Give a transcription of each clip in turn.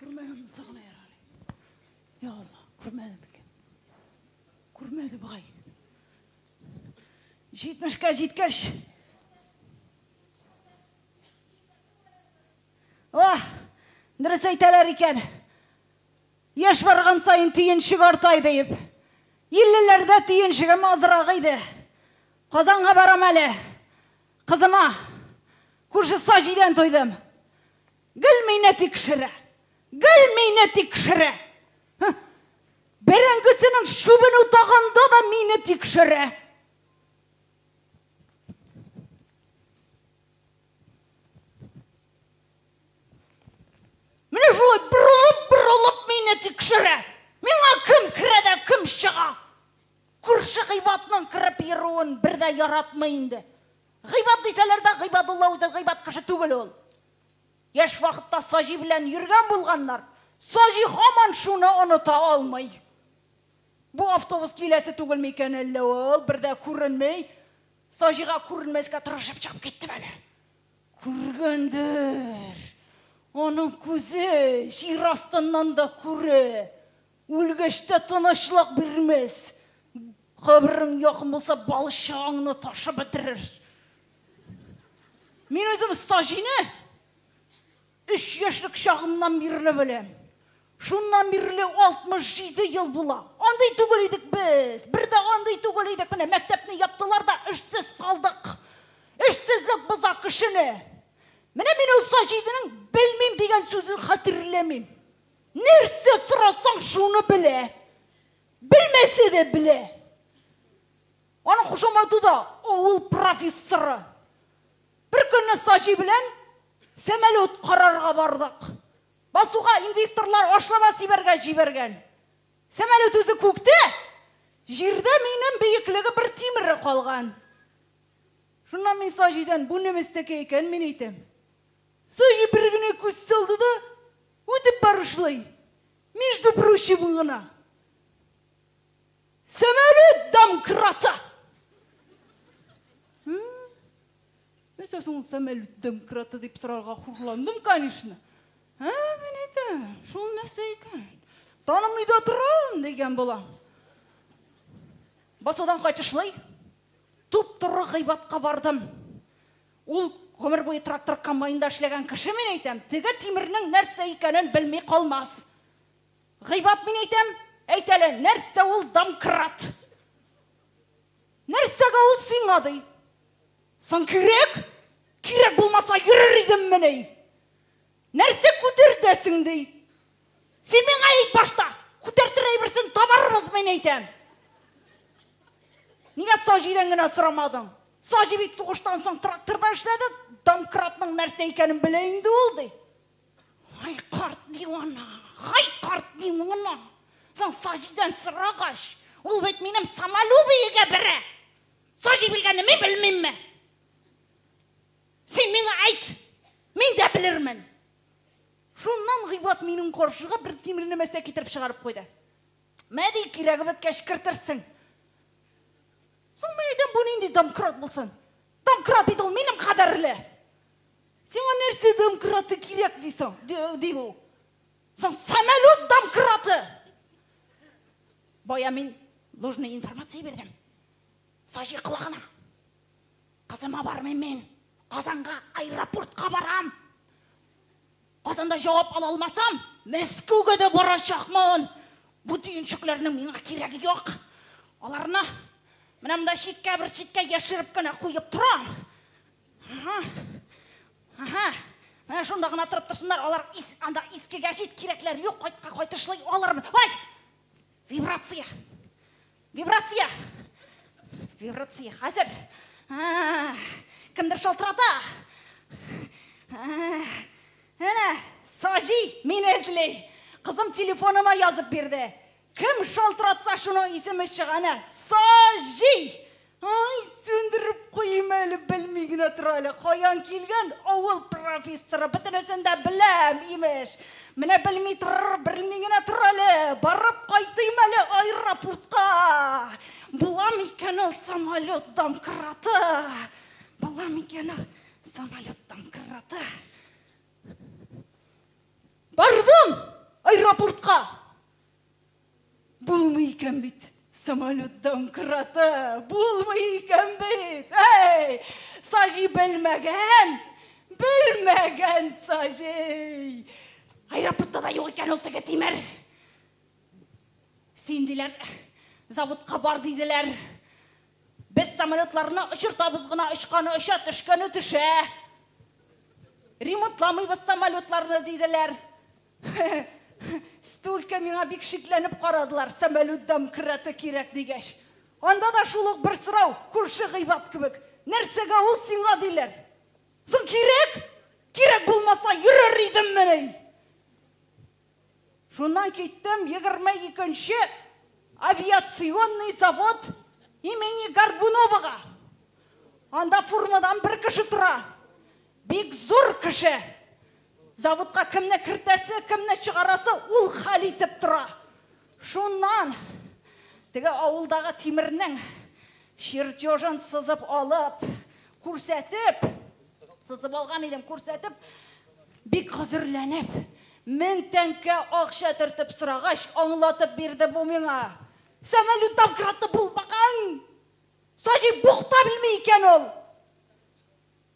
Күрмәгән сагына ярар. Я Алла, күрмәдем икән. Күрмәде бугай. Җитмешкә җиткәч. Ох, дөрес әйтәләр икән. Яшь барган саен төенчек артай диеп. Иллеләрдә төенчегем азрак иде. Казанга барам әле. Кызыма күрше Саҗидән тойдым. Гел мине тикшерә! Гел мине тикшерә! Һы! Бәрәңгесенең чүбен утаганда да мине тикшерә! Менә шулай борылып-борылып мине тикшерә! Миңа кем керә дә кем чыга? Күрше гыйбатның кереп йөрүен бер дә яратмый инде. Гыйбат дисәләр дә, Гыйбадулла үзе гыйбат кеше түгел ул. Яшь вакытта Саҗи белән йөргән булганнар. Саҗи һаман шуны оныта алмый. Бу автобус киләсе түгелме икән әллә ул, бер дә күренми. Саҗига күренмәскә тырышып чыгып киттем әле. Күргәндер. Аның күзе җир астыннан да күрә. Үлгәч тә тынычлык бирмәс. Каберең якын булса, балчыгыңны ташып бетерер. Мин үзем Саҗине өч яшьлек чагымнан бирле беләм. Шуннан бирле 67 ел була. Андый түгел идек без. Бер дә андый түгел идек. Менә мәктәпне яптылар да эшсез калдык. Эшсезлек боза кешене. Менә мин ул Саҗидинең белмим дигән сүзен хәтерләмим. Нәрсә сорасаң, шуны белә. Белмәсә дә белә. Аның кушаматы да авыл профессоры. Бер көнне Саҗи белән самолет карарга бардык. Басуга инвесторлар ашлама сибәргә җибәргән. Самолет үзе күктә, җирдә минем биеклеге бер тимере калган. Шуннан мин Саҗидән, бу немецтәке икән, мин әйтәм. Зоя бер генә күз салды да, үтеп барышлый, между прочим гына, Самолет домкрата! Нәрсә соң ул самолет домкрата дип сорарга хурландым, конечно. Ә, менә дә, шул нәрсә икән. Танымый да торам, дигән була. Басудан кайтышлый, туп-туры гыйбатка бардым. Ул гомер буе трактор комбайнында эшләгән кеше, мин әйтәм, теге тимернең нәрсә икәнен белми калмас. Гыйбат мин әйтәм, әйт әле, нәрсә ул домкрат? Нәрсәгә ул сиңа, ди? Соң кирәк? Кирәк булмаса, йөрер идеммени? Нәрсә күтәртәсең, ди. Син миңа әйт башта, күтәртер әйберсен табарбыз, мин әйтәм. Нигә Саҗидән генә сорамадың? Саҗи бит сугыштан соң тракторда эшләде, домкратның нәрсә икәнен белә инде ул, ди. Ай, карт дивана, ай, карт дивана. Соң Саҗидән сорагач, ул бит минем самолюбиегә бәрә. Саҗи белгәнне мин белмимме? Син миңа әйт! Мин дә белермен! Шуннан Гыйбат минем каршыга бер тимерне мәстә китереп чыгарып куйды. Мә ди, кирәге беткәч кертерсең. Соң мин әйтәм, бу нинди домкрат булсын? Домкрат бит ул минем кадәрле! Сиңа нәрсә домкраты кирәк дисең? ди бу. Соң самолет домкраты! Бая мин нужный информация бирдем. Саҗи колагына. Кызыма бармыйм мин. Казанга аэропортка барам. Казанда җавап ала алмасам, Мәскәүгә дә барачакмын. Бу төенчекләрнең миңа кирәге юк. Аларны менә монда читкә, бер читкә яшереп кенә куеп торам. Ага. Ага. Менә шунда гына торып торсыннар, алар ис, анда искегә чит кирәкләр юк, кайтка кайтышлый алырмын. Ай! Вибрация! Вибрация! Вибрация! Хәзер! А, Кемдер шалтырата! А, Әнә, Саҗи мине эзли! Кызым телефоныма язып бирде. Кем шалтыратса, шуның исеме чыга. Әнә, Саҗи! Ай, сүндереп куйыйм әле, белми генә тора әле, каян килгән авыл профессоры, бөтенесен дә беләм, имеш. Менә белми торыр, белми генә тор әле, барып кайтыйм әле аэропортка. Була микән ул самолет домкраты? Була микән ул самолет домкраты? Бардым аэропортка. Булмый икән бит! Самолет домкраты булмый икән бит! Әй! Саҗи белмәгән! Белмәгән Саҗи! Аэропортта да юк икән ул теге тимер! Син, диләр, заводка бар, диделәр. Без самолетларны очыртабыз гына, очканы оча, төшкәне төшә. Ремонтламыйбыз самолетларны, диделәр. Столько миңа бик шикләнеп карадылар, самолют домкраты кирәк дигәч. Анда да шул ук бер сорау, күрше гыйбат кебек, Нәрсәгә ул сиңа, диләр. Соң кирәк? Кирәк булмаса, йөрер идеммени? Шуннан киттем, егерме икенче авиационный завод имени Горбуновага. Анда фурмадан бер кеше тора. Бик зур кеше. Заводка кемне кертәсе, кемне чыгарасы ул хәл итеп тора. Шуннан теге авылдагы тимернең чертежын сызып алып, күрсәтеп, сызып алган идем, күрсәтеп, бик хозурланып, мең тәңкә акча төртеп сорагач, аңлатып бирде бу миңа. Самолет домкраты булмаган! Саҗи бухта белми икән ул!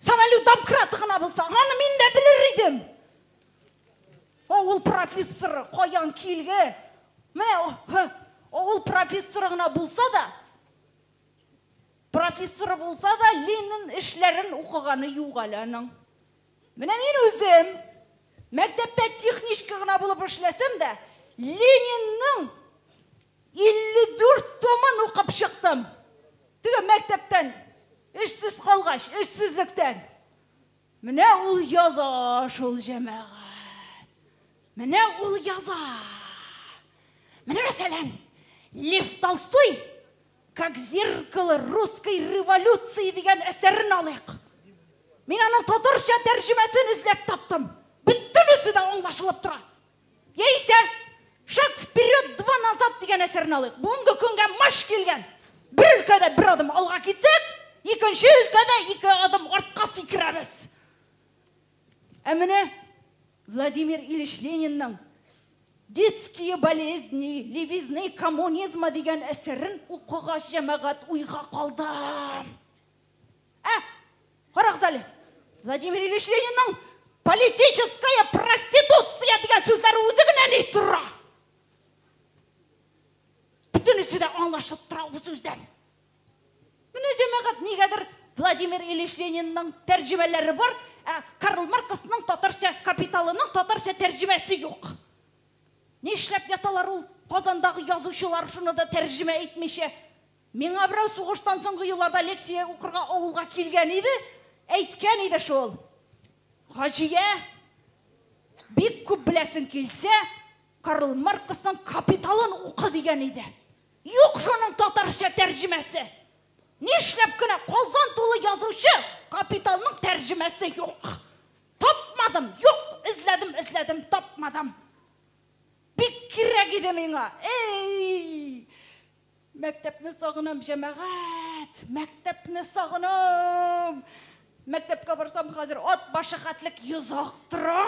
Самолет домкраты гына булса, аны мин дә белер идем. Авыл профессоры каян килгән? Менә авыл профессоры гына булса да, профессоры булса да, Ленин эшләрен укыганы юк әле аның. Менә мин үзем мәктәптә техничка гына булып эшләсәм дә, Ленинның 54 томын укып чыктым. Теге мәктәптән эшсез калгач, эшсезлектән. Менә ул яза шул җәмәгать. Менә ул яза. Менә мәсәлән, Лев Толстой Как зеркало русской революции дигән әсәрен алыйк. Мин аның татарча тәрҗемәсен эзләп таптым. Бөтенесе дә аңлашылып тора. Яисә Шаг вперед, два назад дигән әсәрне алыйк. Бүгенге көнгә маш килгән. Бер өлкәдә бер адым алга китсәк, икенче өлкәдә ике адым артка сикерәбез. Ә менә Владимир Ильич Ленинның Детские болезни, левизны коммунизма дигән әсәрен укыгач, җәмәгать уйга калды. Ә, карагыз әле, Владимир Ильич Ленинның политическая проституция дигән сүзләре үзе генә ни тора. Бөтенесе дә аңлашып тора бу сүздән. Менә җәмәгать нигәдер Владимир Ильич Ленинның тәрҗемәләре бар, ә Карл Марксның татарча капиталының татарча тәрҗемәсе юк. Нишләп яталар ул Казандагы язучылар шуны да тәрҗемә итмичә? Миңа берәү сугыштан соңгы елларда лекция укырга авылга килгән иде, әйткән иде шул, Хаҗия, бик күп беләсең килсә, Карл Марксның Капиталын укы, дигән иде. Юк шуның татарча тәрҗемәсе! Нишләп кенә Казан тулы язучы Капиталның тәрҗемәсе юк! Тапмадым, юк, эзләдем, эзләдем, тапмадым. Бик кирәк иде миңа, эй! Мәктәпне сагынам, җәмәгать! Мәктәпне сагынам! Мәктәпкә барсам, хәзер ат башы хәтлек йозак тора!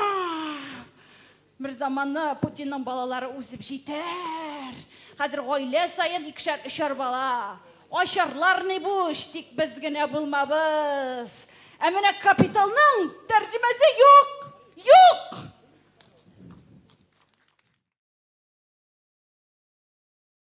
Берзаманны Путинның балалары үсеп җитәр! Хәзер гаилә саен икешәр-өчәр бала! Ачарлар ни бу эш, тик без генә булмабыз! Ә менә капиталның тәрҗемәсе юк! Юк!